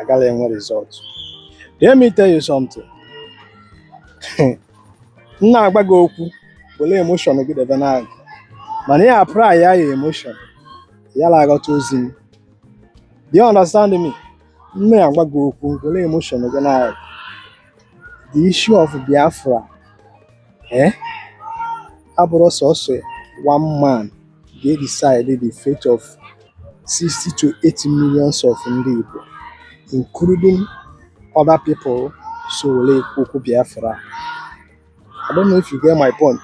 agaghị enwe result let me tell you something m na-agwa gị okwu were emotion gị debe n'agụ mana ya apply ya ya emotion ya na-aghọta ozi m do you understand me m na-agwa gị okwu were emotion gị n'agụ the issue of Biafra eh abụrọ sọsọ one man ga decide the fate of 60 to 80 millions of ndị Igbo including other people so were ekwu okwu Biafra I don't know if you get my point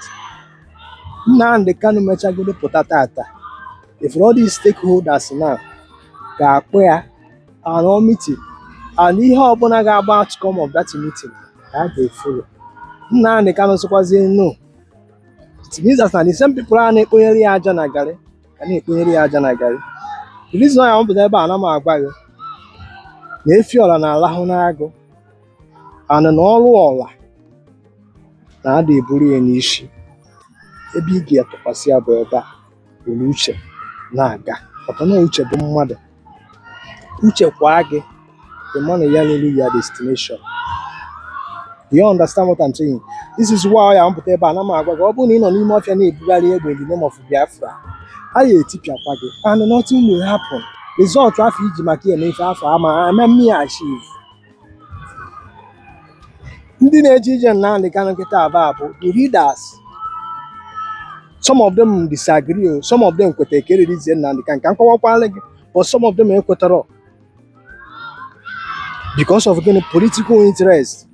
Nnamdi Kanu mechagodu pụta tata if all these stakeholders now ga-akpọ ya anọ meeting and ihe ọbụla ga-abụ outcome of that meeting ka a ga-efolo Nnamdi Kanu sịkwazie no it means na the same people a na-ekponyere ya aja na garị ka na-ekponyere ya aja na garị the reason why m pụta ebe a na m agwa gị na efi ọla na-alahụ n'agụ and na ọrụ ọla na-ada eburu ya n'isi ebe ị ga-atụkwasị ya bụ ebe a were uche na-aga maka na uche bụ mmadụ uche kwaa gị ị ma ya na-elu ya destination Do you understand what I'm saying? This is why ya m pụta ebe a na m agwa gị ọ bụrụ na ị nọ n'ime ọfịa na-ebugharị egbe in the name of Biafra a ya etipịakwa gị and nothing will happen. Result afụ iji maka ya eme ife afụ ama ama mmiri achieve ndị na-eje ije na Nnamdi Kanu kịta aba bụ the leaders some of them disagree o some of them kwetara ka e releasie Nnamdi Kanu ka m kọwakwala gị but some of them ekwetarọ because of gịnị political interest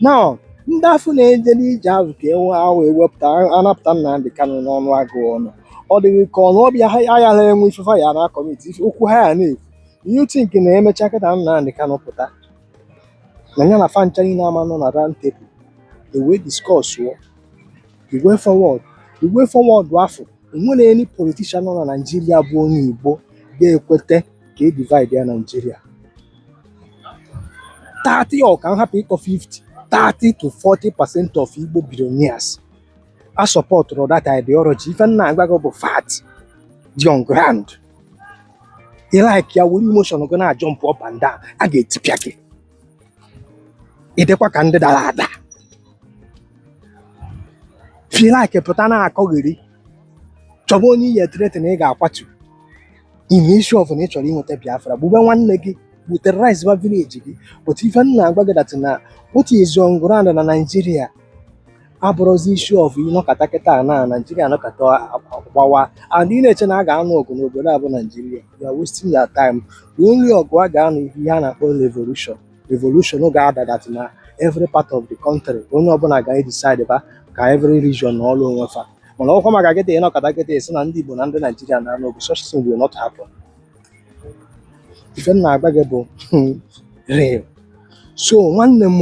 now ndị afụ na-eje n'ije ahụ ka enwe ahụ ewepụta anapụta Nnamdi Kanu n'ọnụ agụ ọnụ ọ dị gị ka ọnụ ọbịa ha ayaghara enwe ife fa ya na kọmiti okwu ha ya na-ekwu you think na emecha kịta Nnamdi Kanu pụta na ya na fa ncha nine ama nọ na round table ewee discussuo the way forward the way forward afụ o nwere any politician nọ na Nigeria bụ onye igbo ga-ekweta ka e divide ya Nigeria 30 ọ ka m hapụ ịkọ 50 30 to 40 percent of igbo billionaires asupportụrọ that ideology ife m na-agwa gị bụ fact dị on ground ị like ya were emotion gị na-ajump up and down a ga-etipịa gị ịdịkwa ka ndị dara ada if ị like pụta na-akọgheri chọba onye ị ya ethreaten na ị ga-akwatu in issue of na ị chọrọ inweta biafra gbube nwanne gị bụ terrorize ba village gị but ife m na-agwa gị that na what is on ground na Nigeria abụrọzi issue of ịnọkata kịta a na naijiria anọkata gbawa and ị na-eche na a ga-anụ ọgụ n'obodo a bụ naijiria you are wasting your time the only ọgụ a ga-anụ bụ ihe a na-akpọ revolution revolution ga-adị that na every part of the country onye ọbụla ga-edecide ba ka every region nọrọ onwe fa mana ọkwa maka kịta ịnọkata kịta a sị na ndị igbo na ndị naijiria na-anụ ọgụ such thing will not happen ife m na-agwa gị bụ real so nwanne m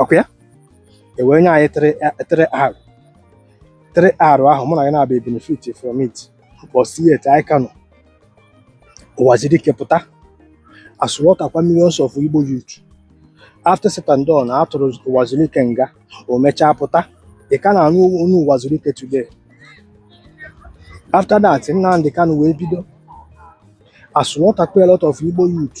ọkwa ya e wee nye anyị 3 r 3 r ahụ mụ na gị na-abịa benefit from it mbọsị taa anyị ka nọ Ụwazuruike pụta a slaughter kwa millions of Igbo youth after said and done a tụrụ Ụwazuruike nga o mechaa pụta ị ka na-anụ ọnụ Ụwazuruike today after that Nnamdi Kanu wee bido a slaughter kwa a lot of Igbo youth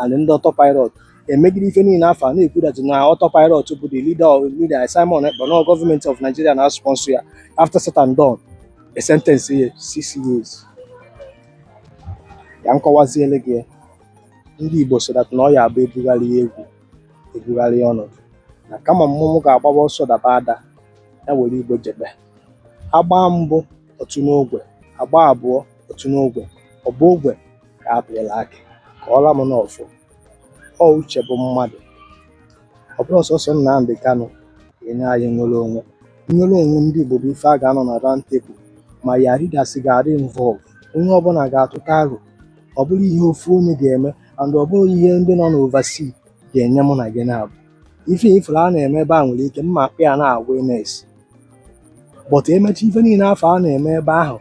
and ndị autopilot emegide ife niile afụ a na-ekwu that na autopilot bụ the leader of leader Simon Ekpa na gọọmenti of Nigeria na-asponsor ya after said and done a sentence ya six years ka m kọwaziele gị ndị Igbo so that na ọ ya abụ ebugharịa egwu ebugharịa ọnọdụ na kama mmọnwụ ga-agbaba ọsọ daba ada ya were igbo jebe a gbaa mbụ o tuo n'ogwe a gbaa abụọ o tuo n'ogwe ọ bụ ogwe ka a pịala akụ ka ọla m n'ọfụ ọ uche bụ mmadụ ọ bụrọ sọsọ Nnamdị Kanụ enye anyị nnwere onwe nnwere onwe ndị Igbo bụ ife a ga-anọ na round table ma ya leaders ga-adị involve onye ọbụla ga-atụta aro ọ bụrọ ihe ofu onye ga-eme and ọ bụrọ ihe ndị nọ n'overseas ga-enye mụ na gị na-abụ ife ị fụrụ a na-eme ebe a nwere ike mma akpọ ya na awareness but e mechaa ife niile afụ a na-eme ebe ahụ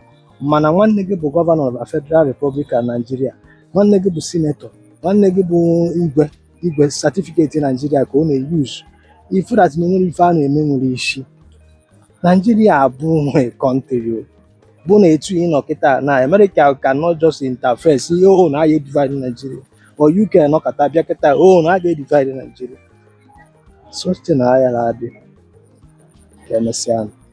mana nwanne gị bụ gọvanọ na Federal Republic of Nigeria nwanne gị bụ sinetọ nwanne gị bụ igwe igwe satifiketi Naijiria ka ọ na-eyuzu ị fụ that na enwerọ ife a na-eme nwere isi Naijiria abụgo kọntrị ọ bụ na etu ị nọ kịta na America cannot just interfere sị o na ya-edivide Nigeria or UK nọkata bịa kịta o na a ga-edivide Nigeria such thing ayarọ adị ka emesịa nụ.